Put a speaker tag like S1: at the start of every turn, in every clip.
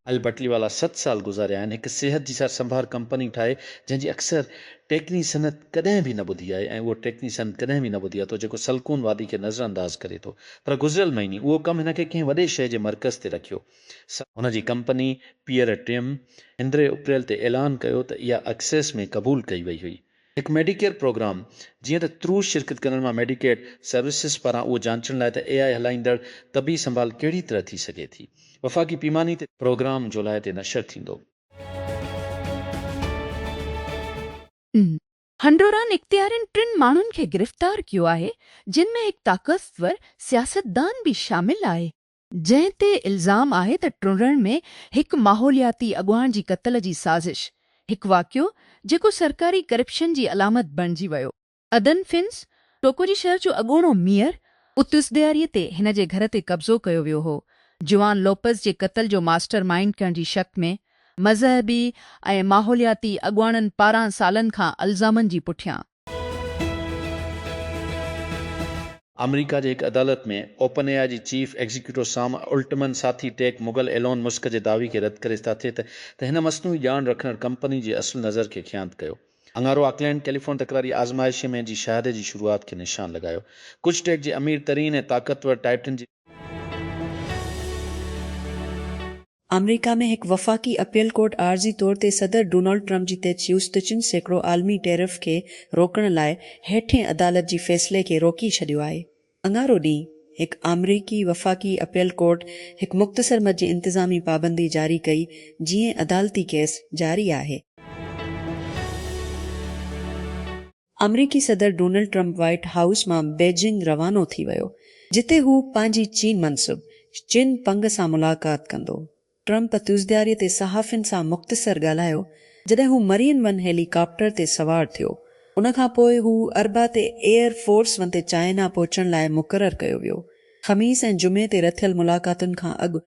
S1: اهل بٽلي والا ست سال گذاريا آهن هڪ صحت جي سار سنڀار ڪمپني ٺاهي جنهن جي اڪثر ٽيڪني صنعت ڪڏهن به نه ٻڌي آهي ۽ اهو ٽيڪني صنعت ڪڏهن به نه ٻڌي آهي ٿو جيڪو سلڪون وادي کي نظر انداز ڪري ٿو پر گذريل مهيني اهو ڪم هن کي ڪنهن وڏي شهر جي مرڪز تي رکيو سا هن جي ڪمپني پيئر ٽيم اندري اپريل تي اعلان ڪيو ته اها اڪسيس ۾ قبول ڪئي وئي هئي هڪ ميڊيڪيئر پروگرام، جيئن ته ترو شرڪت ڪندڙن مان ميڊيڪيڊ سروسز پاران اهو جانچڻ لاء ته اي آء هلائيندڙ طبي سنڀال ڪهڙي طرح ٿي سگهي ٿي، وفاقي پيماني تي. پروگرام جولاء تي نشر ٿيندو.
S2: هنڊوران اختيارين ٽن ماڻهن کي گرفتار ڪيو آهي جن ۾ هڪ طاقتور سياستدان به شامل آهي. جنهن تي الزام آهي ته ٽنڊڻ ۾ هڪ ماحولياتي اڳواڻ جي قتل جي سازش، هڪ واقعو جيڪو سرڪاري ڪرپشن جي علامت بڻجي ويو. ادن فنس، ٽوڪوجي شهر جو اڳوڻو ميئر، اتس ڏياري تي هن جي گهر تي قبضو ڪيو ويو هو، جوان لوپز جي قتل جو ماسٽر مائينڊ ڪرڻ جي شڪ ۾ مذهبي ۽ ماحولياتي اڳواڻن پاران سالن کان الزامن جي پٺيان.
S1: آمريڪا جي هڪ عدالت ۾ اوپن اي آء جي چيف ايگزيڪيوٽو سام الٽمن ساٿي ٽيڪ مغل ايلون مسڪ جي دعوي کي رد ڪري ساٿي ته ته هن مصنوعي ڄاڻ رکندڙ ڪمپني جي اصل نظر کي خيانت ڪيو اڱارو آڪلينڊ ڪيليفون تڪراري آزمائشي ۾ جي شهادي جي شروعات کي نشان لڳايو ڪجهه ٽيڪ جي امير ترين ۽ طاقتور ٽائٽن جي
S3: آمريڪا ۾ هڪ وفاقي اپيل ڪورٽ عارضي طور تي صدر ڊونلڊ ٽرمپ جي تي چيوس ته چن سيڪڙو عالمي ٽيرف کي روڪڻ لاء هيٺين عدالت جي فيصلي کي روڪي ڇڏيو آهي. اڱارو ڏينهن هڪ آمريڪي وفاقي اپيل ڪورٽ هڪ مختصر مد جي انتظامي پابندي جاري ڪئي جيئن عدالتي ڪيس جاري آهي. آمريڪي صدر ڊونلڊ ٽرمپ وائيٽ هائوس مان بيجنگ روانو ٿي ويو، جتي هو پنهنجي چين منصب چن پنگ سان ملاقات ڪندو. ٽرمپ تيوزدياري تي صحافين سان مختصر ڳالهايو، جڏهن هو مرين ون هيلي ڪاپٽر تي سوار ٿيو. ان کان پوء هو اربع تي ايئر فورس ون تي چائنا پهچڻ لاء مقرر ڪيو ويو. خميس ۽ جمعي تي رٿيل ملاقاتن کان اڳ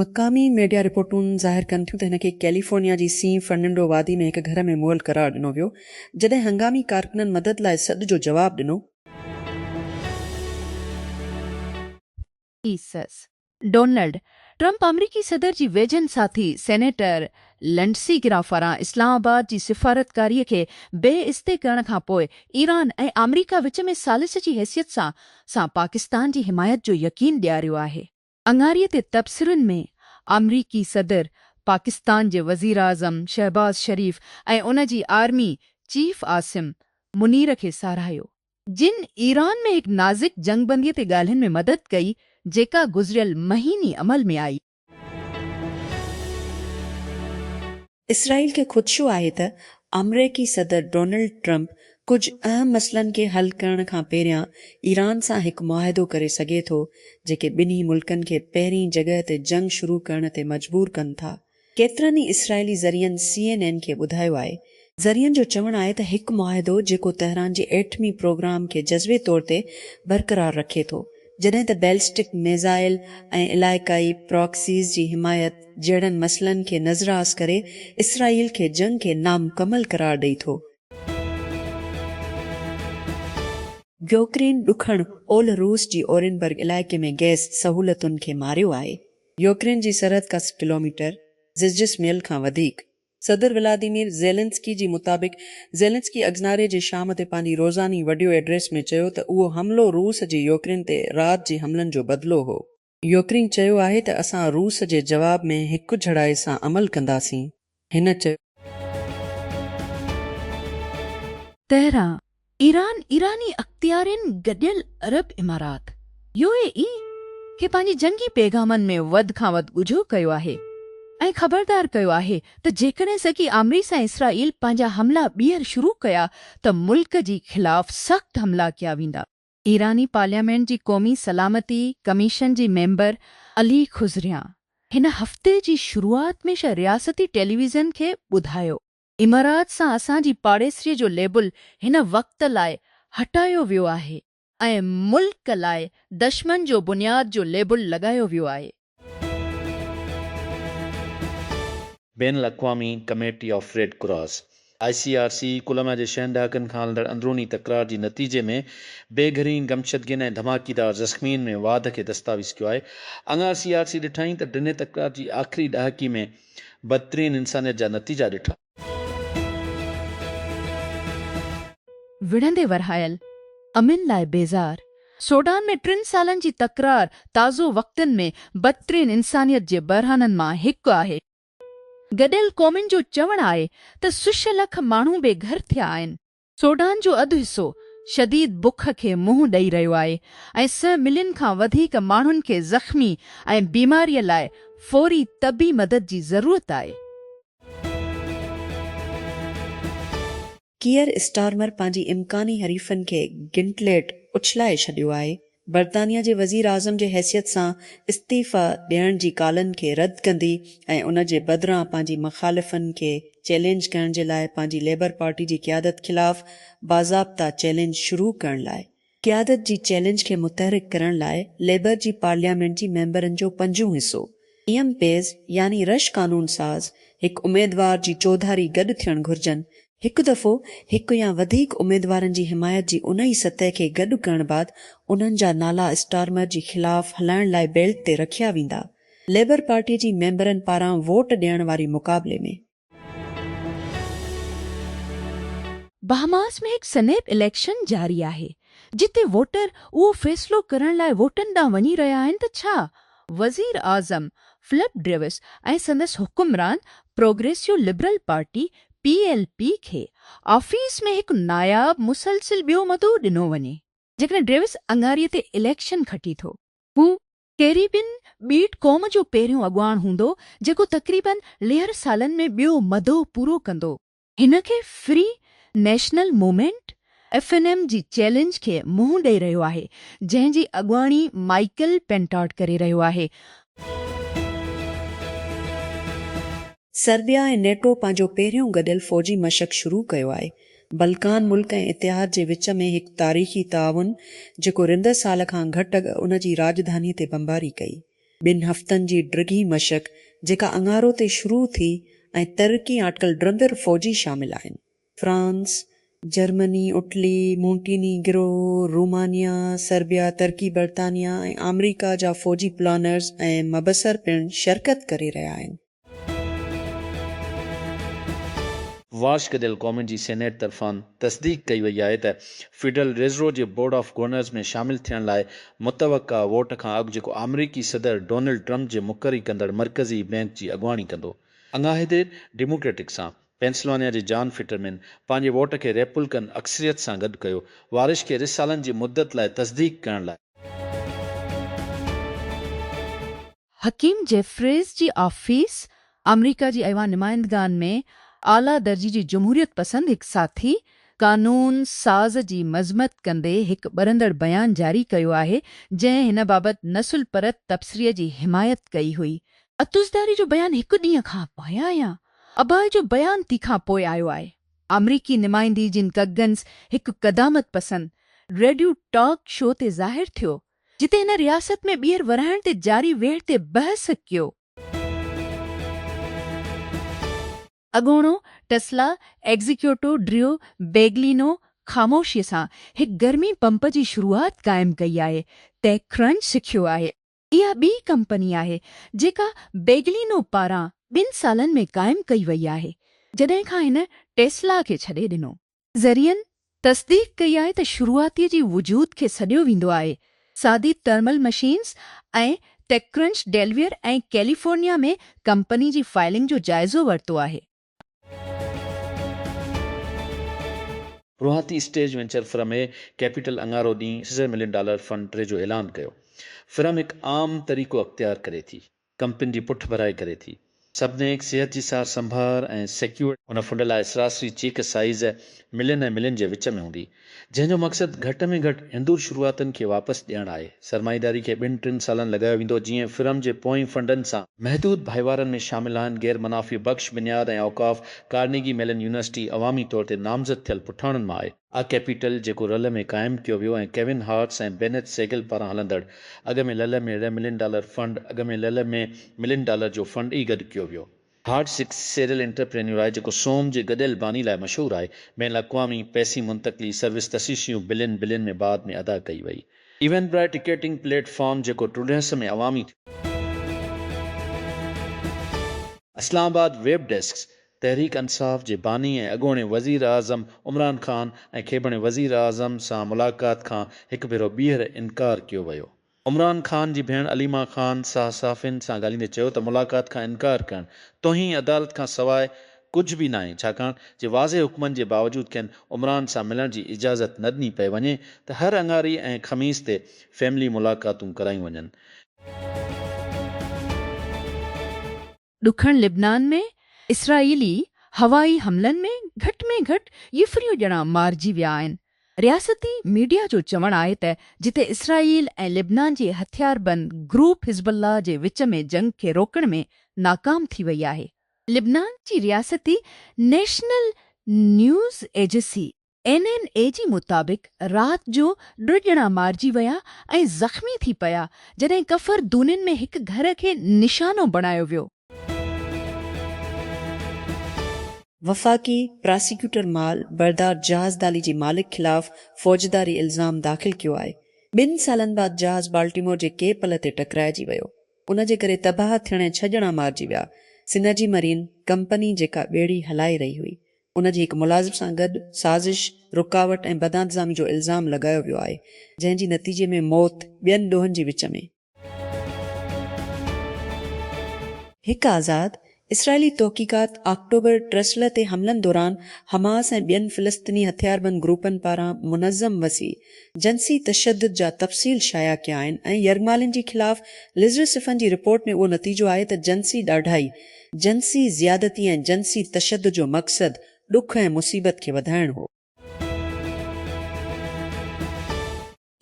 S3: مقامي ميڊيا رپورٽون ظاهر ڪن ٿيون ته هن کي ڪيليفورنيا جي سين فرننڊو وادي ۾ هڪ گهر ۾ مئل قرار ڏنو ويو، جڏهن هنگامي ڪارڪنن مدد لاء سڏ جو جواب ڏنو.
S2: ايسز، ڊونلڊ ٽرمپ آمريڪي صدر جي ويجهن ساٿي سينيٽر لنڊسي گرام پاران اسلام آباد جي سفارتڪاري کي بي استي ڪرڻ کان پوء ايران ۽ آمريڪا وچ ۾ ثالث جي حيثيت سان سان پاڪستان جي حمايت جو يقين ڏياريو آهي. اڱاري تي تبصرن ۾ آمريڪي صدر، پاڪستان جي وزيراعظم شهباز شريف ۽ ان جي آرمي چيف عاصم منير کي ساراهيو، جن ايران ۾ هڪ نازڪ جنگ بندي تي ڳالهين ۾ مدد ڪئي، جيڪا گذريل مهيني عمل ۾ آئي.
S3: اسرائيل کي خدشو آهي ته آمريڪي صدر ڊونلڊ ٽرمپ ڪجهه اهم مسئلن کي حل ڪرڻ کان پهريان ايران سان هڪ معاهدو ڪري سگهي ٿو، جيڪي ٻنهي ملڪن کي پهرين جڳهه تي جنگ شروع ڪرڻ تي مجبور ڪن ٿا. ڪيترن ئي اسرائيلي ذريعن سي اين اين کي ٻڌايو آهي، ذريعن جو چوڻ آهي ته هڪ معاهدو جيڪو تهران جي ايٽمي پروگرام کي جزوي طور تي برقرار رکي ٿو، جڏهن ته بيلسٽڪ ميزائل ۽ علائقائي پراڪسيز جي حمايت جهڙن مسئلن کي نظراس ڪري اسرائيل کي جنگ کي نامڪمل قرار ڏئي ٿو. يوڪرين ڏکڻ اولھ روس جي اورينبرگ علائقي ۾ گئس سهولتن کي ماريو آهي. يوڪرين جي سرحد ڪا سئو ڪلوميٽر، زجسميل کان وڌيڪ، صدر ولاديمير زيلنسڪي جي مطابق زيلنسڪي اگزناري جي شام تي پنهنجي روزاني وڊيو ايڊريس ۾ چيو ته اهو حملو روس جي يوڪرين تي رات جي حملن جو بدلو هو. يوڪرين چيو آهي ته اسان روس جي جواب ۾ هڪجھڙائي سان عمل ڪنداسين، هن چيو.
S2: تهران، ايران، ايراني اختيارين گڏيل عرب امارات، يو اي اي، کي پنهنجي جنگي پيغامن ۾ وڌ کان وڌ ڳجهو ڪيو آهي ۽ خبردار ڪيو آهي ته جيڪڏهن سگي آمريس ۽ اسرائيل پنهنجا حملا ٻيهر شروع ڪيا ته ملڪ جي خلاف سخت حملا ڪيا ويندا. ايراني پارليامينٽ جي قومي سلامتي ڪميشن جي ميمبر علي خضريان هن هفتي جي شروعات ۾ رياستي ٽيليويزن کي ٻڌايو امارات سان اسان جي پاڙيسري جو ليبل هن وقت لاء هٽايو ويو آهي ۽ ملڪ لاء دشمن جو بنياد جو ليبل لڳايو ويو آهي.
S1: بين الاقوامي committee of Red Cross, I C R C, Colombia جي ڇهن ڏهاڪن کان هلندڙ اندروني تڪرار جي نتيجي ۾ بي گهرين گمشدگين ۽ ڌماڪيدار زخمين ۾ واڌ کي دستاويز ڪيو آهي. اڱار سي آر سي ڏٺائين ته ڊنهي تڪرار جي آخري ڏهاڪي ۾ بدترين انسانيت جا نتيجا ڏٺا.
S2: وڙهندي ورهايل، امن لاء بيزار، سوڊان ۾ ٽن سالن جي تڪرار تازو وقتن ۾ بدترين انسانيت جي بحرانن مان هڪ آهي. گڏيل قومن جو چوڻ آهي ته سش لک ماڻهو بي گهر ٿيا آهن. سوڊان جو اڌ حصو شديد بک کي منهن ڏئي رهيو آهي ۽ سئه ملين کان وڌيڪ ماڻهن کي زخمي ۽ بيماريء لاء فوري طبي مدد جي ضرورت آهي.
S3: ڪيئر اسٽارمر پنهنجي امڪاني حريفن کي گنٽليٽ اڇلائي ڇڏيو آهي برطانيا جي وزيراعظم جي حيثيت سان استعيفيٰ ڏيڻ جي ڪالن کي رد ڪندي ۽ ان جي بدران پنهنجي مخالفن کي چئلينج ڪرڻ جي لاء پنهنجي ليبر پارٽي جي قيادت خلاف باضابطه چئلينج شروع ڪرڻ لاء قيادت جي چئلينج کي متحرڪ ڪرڻ لاء ليبر جي پارليامينٽ جي ميمبرن جو پنجون حصو ايم پيز يعني رش قانون ساز هڪ اميدوار جي چوڌاري گڏ ٿيڻ گهرجن هڪ دفعو هڪ يا وڌيڪ اميدوارن جي حمايت جي انهي سطح کي گڏ ڪرڻ بعد انهن جا نالا اسٽارمر جي خلاف هلائڻ لاء بيلٽ تي رکيا ويندا. ليبر پارٽي جي ميمبرن پاران ووٽ ڏيڻ واري مقابلي ۾.
S2: بهاماس ۾ هڪ سنيپ اليڪشن جاري آهي، جتي ووٽر اهو فيصلو ڪرڻ لاء ووٽن ڏانهن وڃي رهيا آهن ته ڇا وزيراعظم فلپ ڊريوس ۽ سندس حڪمران Progressive Liberal Party, P L P کي آفيس ۾ هڪ ناياب مسلسل ٻيو مدو ڏنو وڃي. جيڪڏهن ڊيوس اڱاري تي اليڪشن کٽي ٿو. هو ڪيريبين ٻيٽ قوم جو پهريون اڳواڻ هوندو جيڪو تقريباً ليهر سالن ۾ ٻيو مدو پورو ڪندو. هن کي Free National Movement F N M جي چئلينج کي منهن ڏئي رهيو آهي جنهن جي اڳواڻي مائيڪل پينٽاٽ ڪري رهيو آهي.
S3: سربيا ۽ نيٽو پنهنجو پهريون گڏيل فوجي مشق شروع ڪيو آهي. بلڪان ملڪ ۽ اتحاد جي وچ ۾ هڪ تاريخي تعاون جيڪو رندر سال کان گهٽ اڳ ان جي راڄڌاني تي بمباري ڪئي. ٻن هفتن جي ڊگهي مشق جيڪا اڱارو تي شروع ٿي ۽ ترقي آٽڪل ڊرندر فوجي شامل آهن. France, Germany, Italy, Montenegro, Romania, Serbia, Turkey, برطانيا ۽ آمريڪا جا فوجي پلانرز ۽ مبصر پڻ شرڪت ڪري رهيا آهن.
S1: واشڪ ديل ڪومن جي سينيٽ طرفان تصديق ڪئي وئي آهي ته فيڊرل ريزرو جي بورڊ آف گورنرز ۾ شامل ٿيڻ لاء متوقع ووٽ کان اڳ جيڪو آمريڪي صدر ڊونلڊ ٽرمپ جي مقري ڪندڙ مرڪزي بئنڪ جي اڳواڻي ڪندو. اڱاهي دير ڊيموڪريٽڪ سان پينسلوانيا جي جان فٽرمين پنهنجي ووٽ کي ريپولڪن اڪثريت سان گڏ ڪيو، وارش کي رھ سالن جي مدت لاء تصديق ڪرڻ لاء.
S2: حڪيم جيفريز جي آفيس آمريڪا جي ايوان نمائندگان ۾ اعليٰ درجي جي جمهوريت پسند هڪ ساٿي قانون ساز جي مذمت ڪندي هڪ ٻرندڙ بيان جاري ڪيو آهي جنهن هن بابت نسل پرت تبصري جي حمايت ڪئي هئي. عطوزرداري جو بيان هڪ ڏينهن کان پايان يا اباهه جو بيان تي کان پوء آيو آهي. آمريڪي نمائندي جن ڪگنز هڪ قدامت پسند ريڊيو ٽاڪ شو تي ظاهر ٿيو، جتي هن رياست ۾ ٻيهر ورهائڻ تي جاري ويڙهه تي بحث ڪيو. اڳوڻو ٽسلا ايگزيڪيوٽو ڊريو بيگلينو خاموشيء سان هڪ گرمي پمپ جي شروعات قائم ڪئي آهي، ٽيڪ ڪرنچ سکيو آهي. اها ٻي ڪمپني آهي جيڪا بيگلينو پاران ٻن سالن ۾ قائم ڪئي وئي آهي جڏهن کان هن ٽيسلا کي ڇڏي ڏنو. ذريعن تصديق ڪئي آهي ته شروعاتي جي وجود کي سڏيو ويندو آهي، سادي thermal machines ۽ TechCrunch Delaware ۽ California ۾ company جي فائلنگ جو جائزو ورتو آهي.
S1: روهاتي stage venture firm A capital اڱارو ڏينهن سيزر ملين ڊالر فنڊ ٽري جو اعلان ڪيو. فرم هڪ عام طريقو اختيار ڪري ٿي. ڪمپني جي پٺڀرائي ڪري ٿي. سبنيڪ صحت جي سار سنڀار ۽ سيڪيورڊ. هن فنڊ لاء سراسري چيڪ سائيز ملين ۽ ملين جي وچ ۾ هوندي. جنهن جو مقصد گهٽ ۾ گهٽ هندور شروعاتن کي واپس ڏيڻ آهي. سرمائيداري کي ٻن ٽن سالن لڳايو ويندو جيئن فرم جي پوئين فنڊن سان. محدود ڀائيوارن ۾ شامل آهن غير منافعي بخش بنياد ۽ اوقاف، ڪارنيگي ميلن يونيورسٽي عوامي طور تي نامزد ٿيل پٺاڻن مان آهي. آء ڪيپيٽل جيڪو رل ۾ قائم ڪيو ويو ۽ ڪيون هارٽس ۽ بينيٿ سيگل پاران هلندڙ اڳ ۾ لل ۾ ري ملين ڊالر فنڊ اڳ ۾ لل ۾ ملين ڊالر جو فنڊ ئي گڏ ڪيو ويو. هارڊ سڪس سيريل انٽرپرينيور آهي جيڪو سوم جي گڏيل باني لاء مشهور آهي. بين الاقوامي پئسي منتقلي سروس تشيشيون بلين بلين ۾ بعد ۾ ادا ڪئي وئي. ايونبرائي ٽڪيٽنگ پليٽ فارم جيڪو ٽرڊهس ۾ عوامي ٿيو. اسلام آباد، ويب ڊيسڪ، تحريڪ انصاف جي باني ۽ اڳوڻي وزيراعظم عمران خان ۽ کيبڻي وزيراعظم سان ملاقات کان هڪ ڀيرو ٻيهر انڪار ڪيو ويو عمران خان جي ڀيڻ عليما خان ساهه صحافين سان ڳالهيندي چيو ته ملاقات کان انڪار ڪرڻ توهين عدالت کان سواء ڪجهه به ناهي ڇاڪاڻ جي واضح حڪمن جي باوجود کين عمران سان ملڻ جي اجازت نه ڏني پئي وڃي ته هر اڱاري ۽ خميس تي فيملي ملاقاتون ڪرايون وڃن.
S2: ڏکڻ لبنان ۾ اسرائيلي هوائي حملن ۾ گهٽ ۾ گهٽ ڄڦريون ڄڻا مارجي ويا آهن. رياستي ميڊيا جو چوڻ آهي ته جتي اسرائيل ۽ لبنان جي هٿياربند گروپ حزب الله جي وچ ۾ جنگ کي روڪڻ ۾ ناڪام ٿي وئي آهي. لبنان جي رياستي نيشنل نيوز ايجسي اين اين اي جي مطابق رات جو ٽه ڄڻا مارجي ويا ۽ زخمي ٿي پيا جڏهن ڪفر دونين ۾ هڪ گهر کي نشانو بڻايو ويو.
S3: وفاقي پراسيڪيوٽر مال بردار جهاز دالي جي مالڪ خلاف فوجداري الزام داخل ڪيو آهي، ٻن سالن بعد جهاز بالٽيمور جي ڪي پل تي ٽڪرائجي ويو، ان جي ڪري تباهه ٿيڻ ۽ ڇهه ڄڻا مارجي ويا، سنرجي مرين ڪمپني جيڪا ٻيڙي هلائي رهي هئي، ان جي هڪ ملازم سان گڏ سازش، رڪاوٽ ۽ بدانتظامي جو الزام لڳايو ويو آهي، جنهن جي نتيجي ۾ موت ٻين ڏوهن جي وچ ۾. هڪ آزاد اسرائيلي تحقيقات آڪٽوبر ٽرسلر تي حملن دوران حماس ۽ ٻين فلسطيني هٿياربند گروپن پاران منظم وسيع جنسي تشدد جا تفصيل شايع ڪيا آهن ۽ يرغمالين جي خلاف لزرسفن جي رپورٽ ۾ اهو نتيجو آهي ته جنسي ڏاڍائي جنسي زيادتي ۽ جنسي تشدد جو مقصد ڏک ۽ مصيبت کي وڌائڻ هو.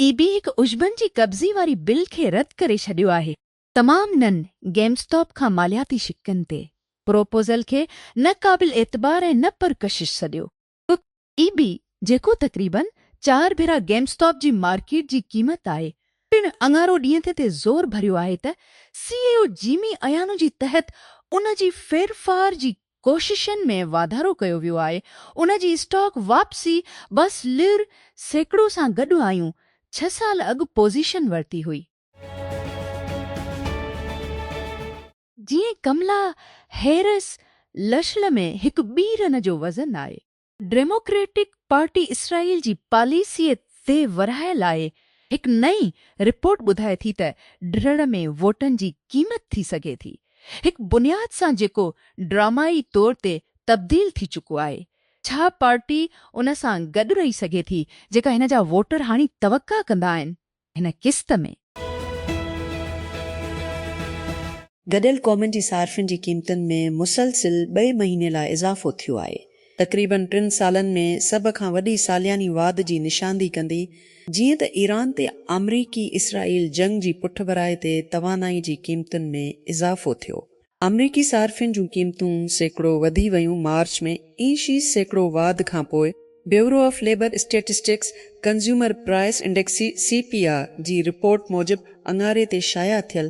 S2: اي بي هڪ عشبن جي قبضي واري بل کي رد ڪري ڇڏيو آهي. تمام نن گيم اسٽاپ کان مالياتي شقن تي پروپوزل کي نه قابل اعتبار ۽ نه پرڪشش سڏيو. پ اي بي جيڪو تقريباً چار ڀيرا گيم اسٽاپ جي مارڪيٽ جي قيمت آهي پڻ اڱارو ڏينهن تي تي زور ڀريو آهي ته سي اي او جيمي ايانو جي تحت ان جي ڦيرڦار جي ڪوششن ۾ واڌارو ڪيو ويو آهي ان جي اسٽاڪ واپسي بس لر سيڪڙو سان گڏ آيون ڇهه سال اڳ پوزيشن ورتي هئي. جيئن ڪملا هيرس لشل ۾ هڪ ٻي رن جو وزن آهي. ڊيموڪريٽڪ پارٽي اسرائيل جي پاليسيء تي ورهاء لاء هڪ نئين رپورٽ ٻڌائي ٿي ته ڊھڙ ۾ ووٽن جي قيمت ٿي سگهي ٿي هڪ بنياد سان جيڪو ڊرامائي طور تي تبديل ٿي چڪو آهي ڇا پارٽي ان سان گڏ رهي سگهي ٿي جيڪا هن جا ووٽر هاڻي توقع ڪندا آهن هن قسط ۾.
S3: گڏيل قومن جي صارفين جي قيمتن ۾ مسلسل ٻئي مهيني لاء اضافو ٿيو آهي. تقريبن ٽن سالن ۾ سڀ کان وڏي سالياني واڌ جي نشاندهي ڪندي جيئن ته ايران تي آمريڪي اسرائيل جنگ جي پٺڀرائي تي توانائي جي قيمتن ۾ اضافو ٿيو آمريڪي صارفين جون قيمتون سيڪڙو وڌي ويون مارچ ۾ اي شي سيڪڙو واڌ کانپوء Bureau of Labor Statistics consumer price index, C P I, جي رپورٽ موجب اڱاري تي شايع ٿيل،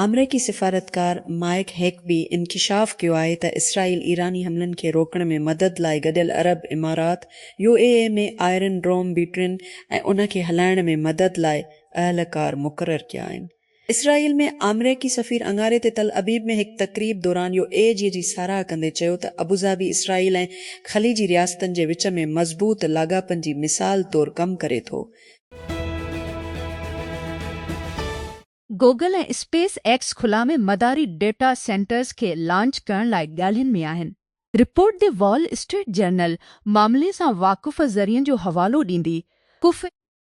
S3: آمريڪي سفارتڪار مائيڪ هيڪبي انڪشاف ڪيو آهي ته اسرائيل ايراني حملن کي روڪڻ ۾ مدد لاء گڏيل عرب امارات، U A E, ۾ iron dome بيٽرين ۽ ان کي هلائڻ ۾ مدد لاء اهلڪار مقرر ڪيا آهن. اسرائيل ۾ آمريڪي سفير اڱاري تي تل ابيب ۾ هڪ تقريب دوران يو اي جي جي ساراهه ڪندي چيو ته ابوظهبي اسرائيل ۽ خليجي رياستن جي وچ ۾ مضبوط لاڳاپن جي مثال طور ڪم ڪري ٿو.
S2: گوگل ۽ اسپيس ايڪس خلا ۾ مداري ڊيٽا سينٽرز کي لانچ ڪرڻ لاء ڳالهين ۾ آهن. Report The Wall Street Journal معاملي سان واقف ذريعن جو حوالو ڏيندي ڪف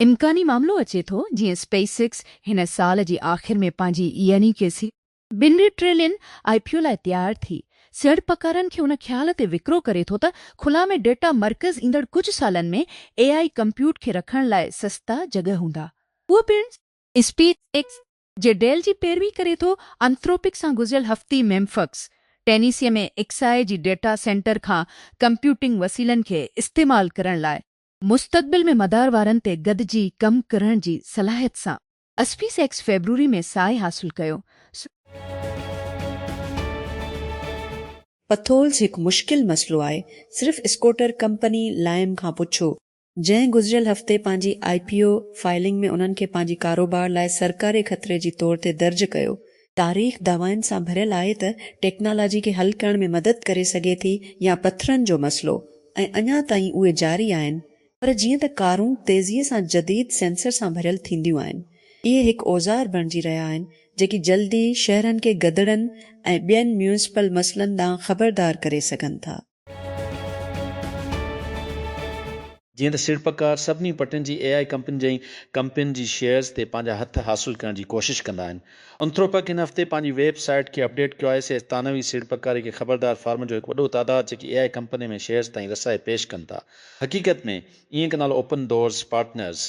S2: امڪاني معاملو اچي ٿو جيئن اسپيس ايڪس هن سال جي آخر ۾ پنهنجي يعني ڪي سي. ٻن ٽريلين آء پي او لاء تيار ٿي سيڙپڪارن کي ان خيال تي وڪرو ڪري ٿو ته خلا ۾ ڊيٽا مرڪز ايندڙ ڪجهه سالن ۾ اي آء ڪمپيوٽ کي رکڻ لاء سستا جڳهه هوندا اهو پڻ اسپيس ايڪس جي ڊيل جي پيروي ڪري ٿو انٿروپڪ سان گذريل هفتي ميمفڪس ٽينيسي ۾ ايڪس آء جي ڊيٽا سينٽر کان ڪمپيوٽنگ وسيلن کي استعمال ڪرڻ لاء مستقبل ۾ مدار وارن تي گڏجي ڪم ڪرڻ جي صلاحيت سان اسپيس ايڪس فيبروري ۾ ساهي حاصل ڪيو.
S3: پٿولز هڪ مشڪل مسئلو آهي، صرف اسڪوٽر ڪمپني لائم کان پڇو، جنهن گذريل هفتي پنهنجي آء پي او فائلنگ ۾ انهن کي پنهنجي ڪاروبار لاء سرڪاري خطري جي طور تي درج ڪيو، تاريخ دعوائن سان ڀريل آهي ته ٽيڪنالاجي کي حل ڪرڻ ۾ مدد ڪري سگهي ٿي يا پٿرن جو مسئلو ۽ اڃا تائين اهي جاري آهن پر جيئن ته ڪارون تيزيء سان جديد سينسر سان ڀريل ٿينديون آهن اهي هڪ اوزار بڻجي رهيا آهن جيڪي جلدي شهرن کي گدڙن ۽ ٻين ميونسپل مسئلن ڏانهن خبردار ڪري سگهن ٿا.
S1: جيئن ته سيڙپڪار سڀني پٽين جي اي آء ڪمپنين جي ڪمپنين جي شيئرز تي پنهنجا هٿ حاصل ڪرڻ جي ڪوشش ڪندا آهن. انٿروپڪ هن هفتي پنهنجي ويب سائيٽ کي اپڊيٽ ڪيو آهي. سيئرز ثانوي سيڙپڪاري کي خبردار فارمن جو هڪ وڏو تعداد جيڪي اي آء ڪمپنين ۾ شيئرز تائين رسائي پيش ڪن ٿا. حقيقت ۾ اينڪ نالو اوپن ڊورز پارٽنرز